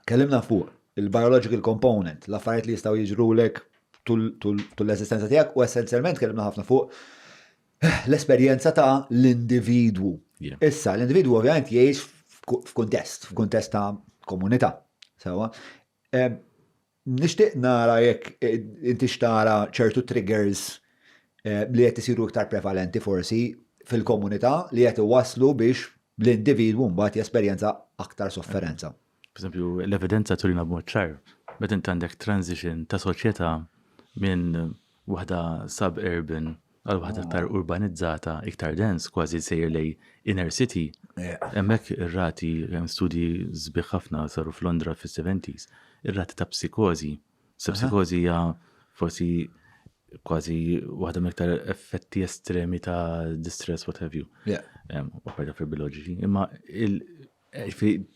Tkellimna fuq il-biological component, l-affarijiet li jistgħu jiġrulek tul l-eżistenza tiegħek u essenzjalment tkellimna ħafna fuq l-esperjenza ta' l-individwu. Issa, l-individwu ovvjament jgħix f'kuntest, f'kuntest ta' komunità. Sewa. Nixtieq nara jekk inti xtara ċertu triggers li qed isiru iktar prevalenti forsi fil-komunità li qed iwasslu biex l-individwu mbagħad jesperjenza aktar sofferenza. Pereżempju, l-evidenza turina b'mod ċar meta inti għandek transition ta' soċjetà minn waħda sub-urban għal waħda aktar urbanizzata, iktar dense, kważi sejjer lejn inner city, hemmhekk ir-rati, studji sbieħ ħafna saru f'Londra fis-70s, ir-rati ta' psikożi Sepsikożi hija forsi kważi waħda mill-iktar effetti estremi ta' distress, what have you. Opera fil biologi Imma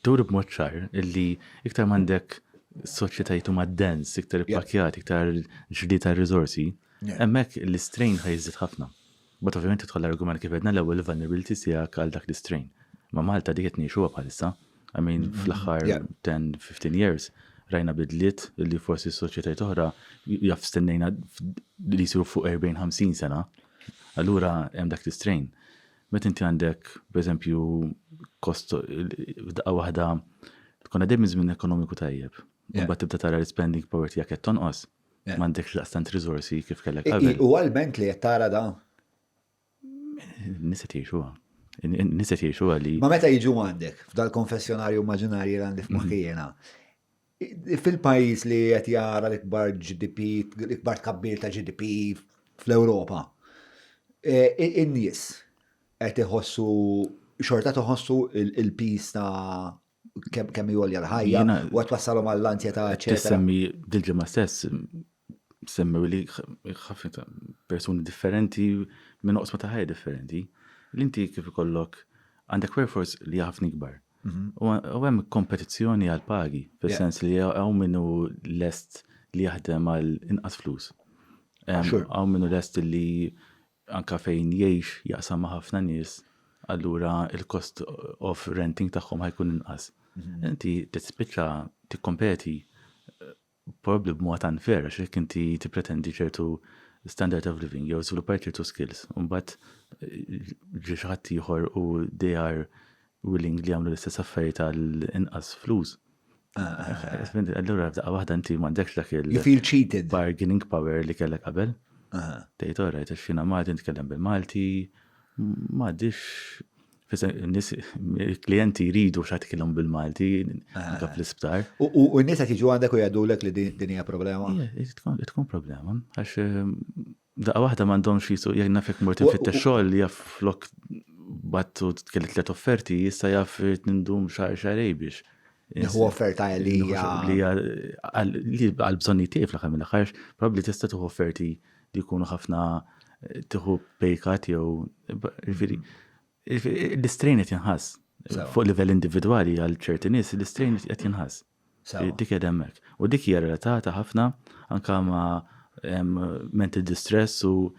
tur b'mod ċar illi iktar m'għandek soċjetajiet huma dens, iktar ippakjat, iktar ġdi ta' riżorsi, hemmhekk l-istrejn ħajżid ħafna. Mbagħad ovvjament jidħol l-argument kif għedna l-ewwel il-vulnerability tiegħek għal dak l-istrain. Ma' Malta dik qed ngħixuha bħalissa. I mean fl-aħħar 10-15 years rajna bidliet li forsi s-soċjetajiet oħra jaf stennejna li jsiru fuq 40-50 sena. Allura hemm dak l-istrain. Meta inti għandek, pereżempju, kost f'daqqa waħda tkun għaddej minn żmien ekonomiku tajjeb. Imbagħad tibda tara l-spending power tiegħek qed tonqos. M'għandekx daqstant riżorsi kif kellek qabel. U għal-bent li qed tara da? Nisa tiexuha. Nisa tiexuha li. Ma meta jiġu għandek f'dal-konfessjonarju immaġinarji li għandi f'maħkijena. Fil-pajjiż li qed jara l-ikbar GDP, l-ikbar tkabbir ta' GDP fl-Ewropa. E, in-nies qed iħossu xorta toħossu il-pis ta' kemm kemm jolja l-ħajja u għat wassalhom għall-anzjetà eċetera. Semmi dil-ġimgħa stess semmi li ħafna ta' persuni differenti minn oqsma ta' ħajja differenti. L-inti kif ikollok għandek workforce li ħafna ikbar. Mhm. U hemm kompetizzjoni għal pagi, fis-sens li hawn minnu lest li jaħdem għal inqas flus. Hawn minnu lest li anke fejn jgħix jaqsam ma' ħafna nies, allura il-cost of renting tagħhom ħajkun inqas. Inti tispiċċa tikkompeti probabbli b'mod unfair għax jekk inti tippretendi ċertu standard of living jew żviluppar ċertu skills, mbagħad ġi xi ħadd ieħor u they are willing li jagħmlu l-istess affarijiet għal inqas flus. Allura f'daqqa waħda inti m'għandekx dak il- You feel cheated. Bargaining power li kellek qabel. Tgħid all right, għax jiena Malti nitkellem bil-Malti, m'għadix il-klijenti jridu x'għad kellhom bil-Malti anke fl-isptar. U n-nies qed jiġu għandek u jgħidulek li din hija problema? Tkun problema għax F'daqqa waħda m'għandhomx jisu jekk naf jekk mort infittex xogħol li jaf flok batt u kelli tliet offerti, issa jaf nindum xahar xarej biex. Nieħu offerta li hija għal bżonni tiegħi fl-aħħar mill-aħħar, probabbli tista' tieħu offerti li jkunu ħafna tieħu pejkat jew jiġifieri l-istrejn qed jinħass fuq livell individwali għal ċerti nies l-istrejn qed jinħass. Sewwa. Dik qiegħda hemmhekk. U dik hija relatata ħafna anke ma' mental distress u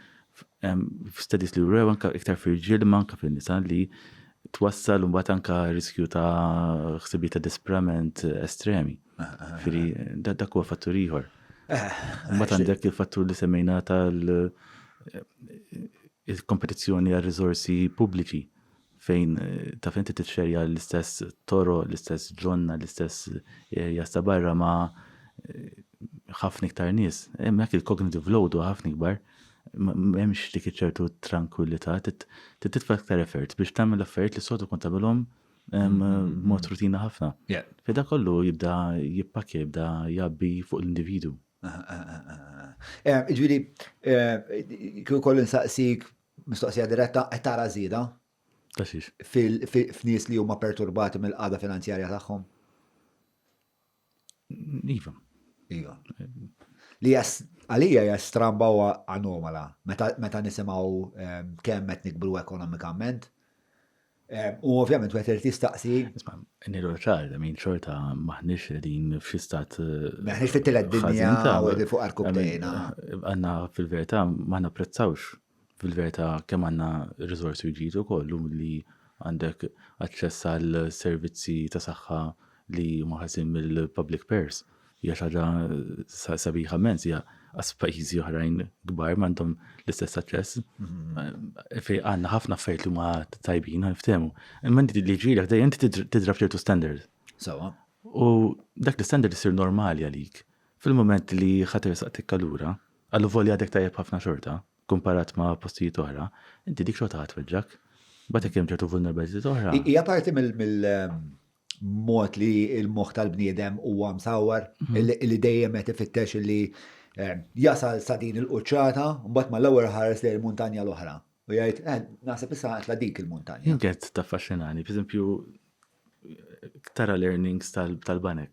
studies li wrew anke iktar fir-rġiel imma anke fin-nisa li twassal imbagħad anke riskju ta' ħsibijiet ta' disprament estremi. Ġifieri dak huwa fattur ieħor. Imbagħad għandek il-fattur li semmejna tal il-kompetizzjoni għal riżorsi pubbliċi fejn taf inti titxerja l-istess toro, l-istess ġonna, l-istess areas ta' barra ma' ħafna iktar nies. Hemmhekk il-cognitive load huwa ħafna ikbar. M'hemmx dik iċertu tranquillità, titfa' iktar effort biex tagħmel affarijiet li s-soltu kont tagħmilhom b'mod rutina ħafna. Fida kollu jibda jippakja, jibda jabbi fuq l-individu. Ġifieri, kieku kollu nsaqsik Mistoqsija diretta, qed tara żieda? Ta' xiex? F'nies li huma perturbati mill-qagħda finanzjarja tagħhom? Iva. Iva. Li għalija hija stramba u anomala meta nisimgħu ehm, kemm qed nikbru ekonomikament. U ovvjament wieħed irid jistaqsi. Isma', nilu ċar, min xorta maħniex qegħdin f'xi stat. Maħniex eh, fit-tielet dinja u qegħdin fuq arkubtejna. Għandna fil-verità ma napprezzawx fil-verità kemm għandna riżorsi ġidu kollu li għandek aċċess għal servizzi ta' saħħa li maħasin mill-public pairs. Hija xi ħaġa sabiħa mens hija għas pajjiżi oħrajn kbar m'għandhom l-istess aċċess. Mm-hmm. Fej għandna ħafna affarijiet li ma tajbin ftehmu. Imma inti li ġielek dejjem inti tidrab ċertu standard. Sawa. U dak l-standard isir normali għalik. Fil-moment li ħatir saqtik allura, għallu volja dek tajjeb ħafna xorta, kumparat ma' postijiet oħra, inti dik xorta ħatweġġak. Batek hemm ċertu vulnerabilità oħra. Hija parti mill- ehm, mod li l-moħħ tal-bniedem huwa msawwar, mhm. li dejjem qed ifittex li eh, jasal sa din il-quċċata, mbagħad mal-ewwel ħares lejn il-muntanja l-oħra. U jgħid, eh, naħseb issa għatla dik il-muntanja. Jinket ta' faxxinani, per tara l-earnings tal-banek.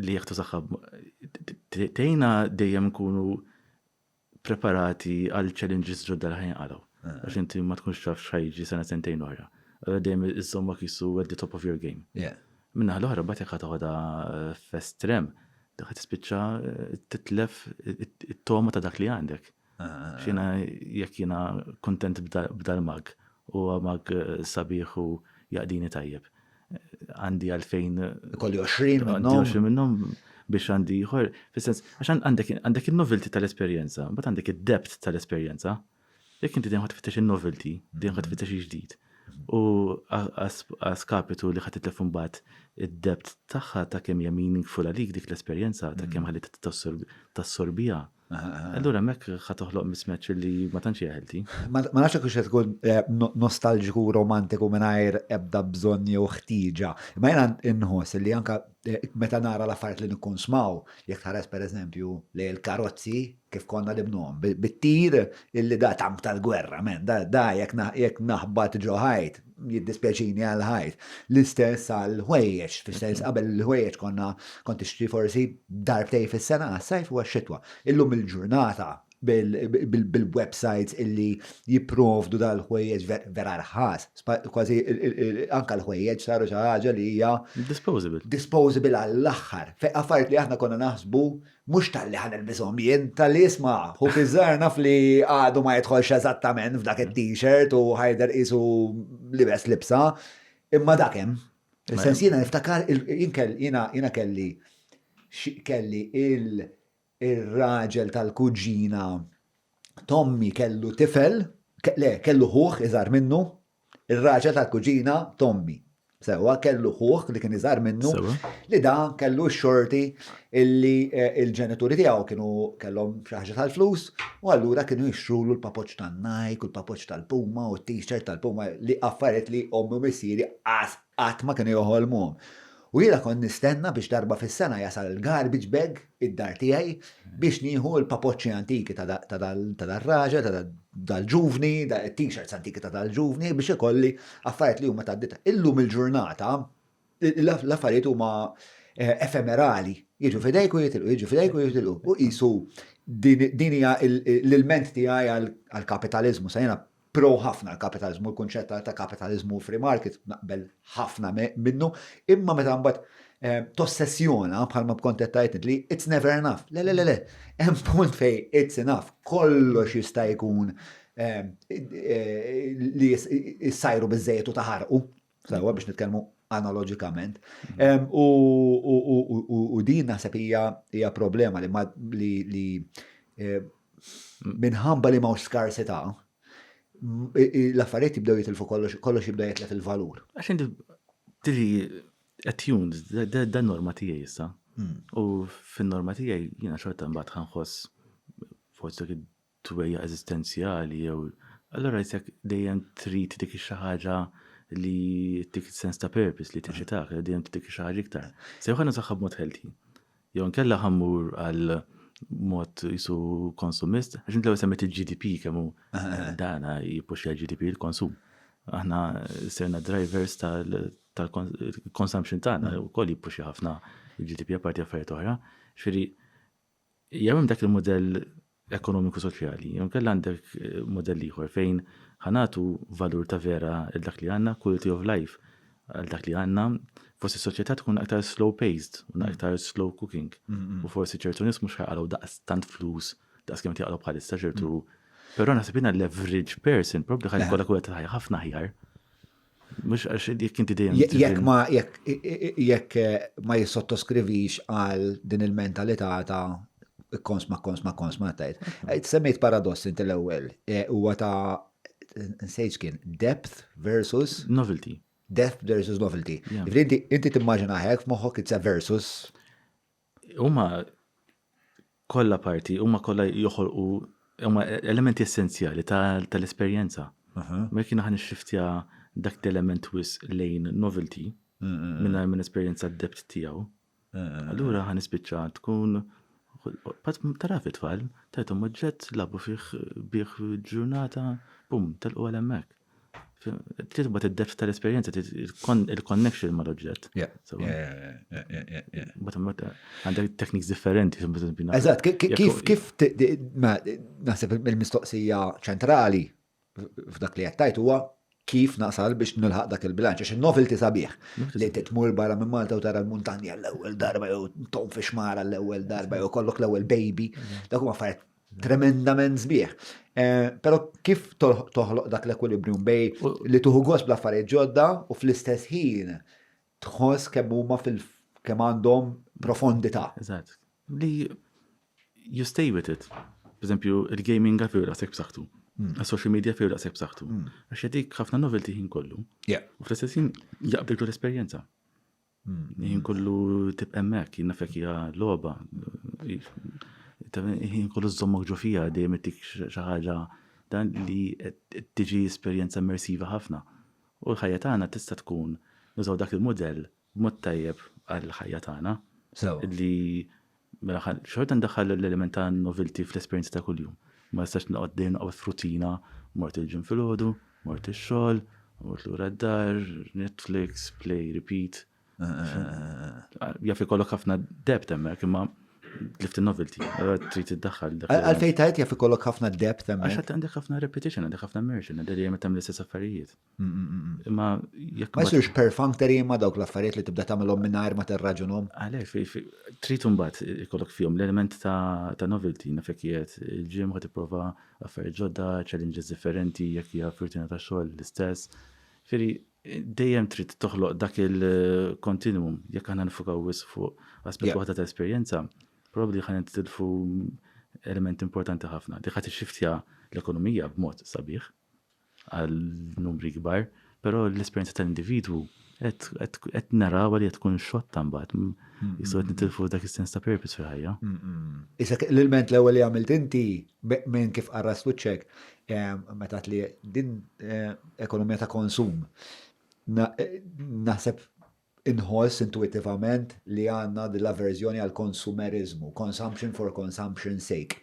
li jieħdu saħħa tgħinna dejjem nkunu preparati għal challenges ġodda li ħajnqalgħu. Eh. Għax inti ma tkunx taf x'ħajġi sena sentejn oħra. Allora dejjem iżommok jissu at the top of your game. Minna l-oħra bat jekk ħatoħda eh, festrem, dak tispiċċa eh, titlef it-toma ta' dak li għandek. Xina jekk jiena kuntent b'dal-mug, huwa mug sabiħ u jaqdini tajjeb. Għandi għalfejn. Ikolli 20 minnhom. 20 minnhom biex għandi ieħor. Fis-sens, għax għandek in-novelty tal-esperjenza, mbagħad għandek id-depth tal-esperjenza. Jekk inti dejjem ħadd tfittex in-novelty, dejjem ħadd tfittex il-ġdid. U għaskapitu li ħadd titlef imbagħad id-depth tagħha ta' kemm hija meaningful għalik dik l-esperjenza ta' kemm ħalli tassorbiha. Allura mek ħa toħloq mismatch li ma tantx hija healthy. Ma nafx hekk se tkun eh, nostalġiku u romantiku mingħajr ebda bżonn jew ħtieġa. Ma jiena nħoss li anka eh, meta nara l-affarijiet li nkun smaw, jekk tħares pereżempju li l-karozzi kif konna li bnuhom bit-tir illi da tank tal-gwerra, men, da jekk naħbat ġoħajt, jiddispjaċini għal ħajt. L-istess għal ħwejjeġ, fis-sens qabel l-ħwejjeġ konna kont tixtri forsi darbtej fis-sena għas-sajf u għax-xitwa. Illum il-ġurnata bil-websites illi jipprovdu dal-ħwejjeġ vera rħas, kważi anka l-ħwejjeġ saru xi ħaġa li hija disposable. Disposable għall-aħħar. Affarijiet li aħna konna naħsbu Mhux talli ħa nilbishom jien, talli isma', ħu biżżar naf li għadu ma jidħolx eżattament f'dak it-t-shirt u ħa jidher qisu libes libsa, imma dak hemm. Fis-sens jiena niftakar jiena kelli kelli ir-raġel tal-kuġina t'ommi kellu tifel, le kellu ħuh iżgħar minnu, Ir-raġel tal-kuġina t'ommi. Sewwa, kellu ħuh li kien iżgħar minnu. Sewwa. Li dan kellu x-xorti illi l-ġenituri tiegħu kienu kellhom xi ħaġa tal-flus u allura kienu jixtrulu l-papoġġ tan-Nike u l-papoġġ tal-Puma u t-t-shirt tal-Puma li affarijiet li ommi u missieri qas qatt ma kienu joħolmuhom. U jiena kont nistenna biex darba fis-sena jasal il-garbage bag id-dar tiegħi biex nieħu l-papoċċi antiki ta' dal-raġel, ta' dal-ġuvni, t-t-shirts antiki ta' dal-ġuvni biex ikolli affarijiet li huma ta' ditta. Illum il-ġurnata l-affarijiet huma eh, efemerali, jiġu fidejk u jitilqu, jiġu fidejk u jitilqu. U qisu din hija l-ilment tiegħi għall-kapitaliżmu, sa jiena Pro ħafna l-kapitaliżmu, l-kunċett ta' kapitaliżmu u free market naqbel ħafna minnu, imma meta mbagħad tossessjona bħalma bkont qed tgħid int li it's never enough. Le le le le, hemm punt fej it's enough, kollox jista' jkun li jsajru biżejjed u taħarqu. Sawa biex nitkellmu analoġikament. Mm. U din naħseb hija problema li li eh, mm. minħabba li ma' skarsità l-affarijiet jibdew jitilfu kollox kollox jibda jitlef il-valur. Għax inti tiri attuned dan norma tiegħi issa. Mm. U fin-norma tiegħi jiena xorta mbagħad ħanħoss forsi twejjaq eżistenzjali jew allura jisek dejjem trid dik xi ħaġa li tik sens ta' purpose li teċitak, li dejjem tik xi ħaġa iktar. Se jew ħanna saħħa b'mod healthy. Jew nkella ħammur għal mod jisu konsumist, għax inti semmet il-GDP kemm hu dana jipuxja l-GDP il-konsum. Aħna serna drivers tal-consumption tagħna wkoll jipuxja ħafna il-GDP apparti affarijiet oħra. Xiri, Jew hemm dak il-mudell ekonomiku soċjali, jew inkella għandek mudell ieħor fejn ħa nagħtu valur ta' vera il dak li għandna, quality of life għal dak li għandna, forsi s-soċjetà tkun aktar slow paced, mm. aktar slow cooking. Mm, mm. U forsi ċertu nies mhux ħaqalgħu daqs tant flus, daqs kemm tiqalgħu bħalissa ċertu. Però naħseb jiena l-average person probabli ħajkollha kull ħafna ħjar. Mux għax jek inti dejjem. Jek ma jek jek eh, ma jissottoskrivix għal din il-mentalità ta' kons ma kons ma kons ma tajt. Eh, semmejt paradoss inti l-ewwel, eh, huwa ta' nsejġ kien depth versus novelty. Depth versus novelty. Inti timmaġina hekk f'moħħok it's a versus Huma kollha parti, huma kollha joħolqu huma elementi essenzjali tal-esperjenza. Ma jekk aħna nixxiftja dak l-element wis lejn novelty mingħajr minn esperjenza d-dept tiegħu. Allura ħa nispiċċa tkun Pat tara fit-tfal, tajthom oġġett, labu fih bih ġurnata, bum, telqu għal hemmhekk. Titba t-depth tal-esperienza, il-connection ma l-oġġett. Għandek tekniks differenti. Eżat, kif naħseb il-mistoqsija ċentrali f'dak li għattajt huwa kif nasal biex nilħaq dak il-bilanċ, għax il-novelty sabiħ. Li titmur barra minn Malta u tara l-muntanja l-ewwel darba jew tom fi xmara l-ewwel darba jew kollok l-ewwel baby, dak huma affarijiet tremendament sbieħ. Eh, pero kif toħloq dak l-ekwilibrium bej li tuħu għos bl-affarijiet ġodda u fl-istess ħin tħoss kemm huma fil kemm għandhom profondità. Eżatt. Li you stay with it. Per esempio, il-gaming għafiru daqsek b'saħħtu. Hmm. Social media firu daqsek b'saħħtu. Hmm. Għax jadik ħafna novelty ħin kollu. U fl-istess ħin jaqbdiltu l-esperjenza. Jien kollu tibqa' hemmhekk, jien nafek hija logħba. Jien kollu żommok ġo fija dejjem ittik xi ħaġa dan li tiġi esperjenza immersiva ħafna. U l-ħajja tagħna tista' tkun nużaw dak il-mudell b'mod tajjeb għall-ħajja tagħna. Sew. Li Mill-aħħar, xorta ndaħħal l-element ta' novelty fl-esperjenza ta' kuljum. Ma nistax noqgħod dejjem noqgħod f'rutina, mort il-gym filgħodu, mort ix-xogħol, mort lura d-dar, Netflix, play, repeat. Jaf ikollok ħafna depth hemmhekk imma tlift in-novelty, allura trid iddaħħal. Għalfejn tajt jaf ikollok ħafna depth hemmhekk? Għax għandek ħafna repetition, għandek ħafna immersion, għandek dejjem tagħmel l-istess affarijiet. Imma jekk. Ma jsirx perfunctory imma dawk l-affarijiet li tibda tagħmilhom mingħajr ma terraġunhom. Għalhekk trid imbagħad ikollok fihom l-element ta' novelty naf jekk qiegħed il-gym ħa tipprova affarijiet ġodda, challenges differenti jekk hija f'rutina ta' xogħol l-istess. Firri dejjem trid toħloq dak il-continuum jekk aħna nifukaw wis fuq aspett waħda ta' esperjenza, probabbli ħa nitilfu element importanti ħafna. Dik ħadd ixxiftja l-ekonomija b'mod sabiħ. għal numri kbar, però l-esperjenza tal-individwu qed naraw li qed tkun xotta mbagħad. Jistgħu qed nitilfu dak is-sens ta' purpose fil-ħajja. Isek l-ilment l-ewwel li għamilt inti minn kif qarras wiċċek meta li din ekonomija ta' konsum. Naħseb inħoss intuitivament li għandna l-averżjoni għal konsumerizmu, consumption for consumption sake.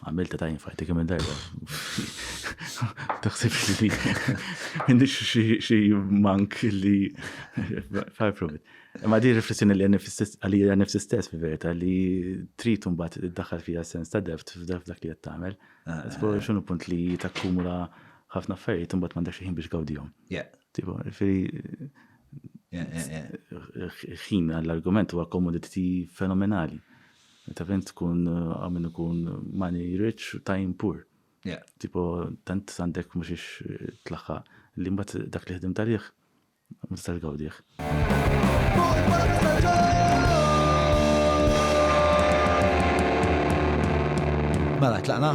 Għamilta ta' infajti kemm darba. Taħsib li għandix xi mank li far from it. Ma di riflessjoni li għalija nifsi stess fi verita li trid mbagħad iddaħħal fija sens ta' deft f'dak li qed tagħmel. X'inhu punt li takkumula ħafna affarijiet imbagħad m'għandek xi ħin biex gawdihom. Tipo, firi, ħin għall-argument huwa komoditi fenomenali. Ta' fejn tkun għamin ikun money rich, time poor. Tipo, tant għandek mux ix tlaħħa li mbat dak li ħdim taliħ, ma tistax gawdiħ. Mela, tlaqna?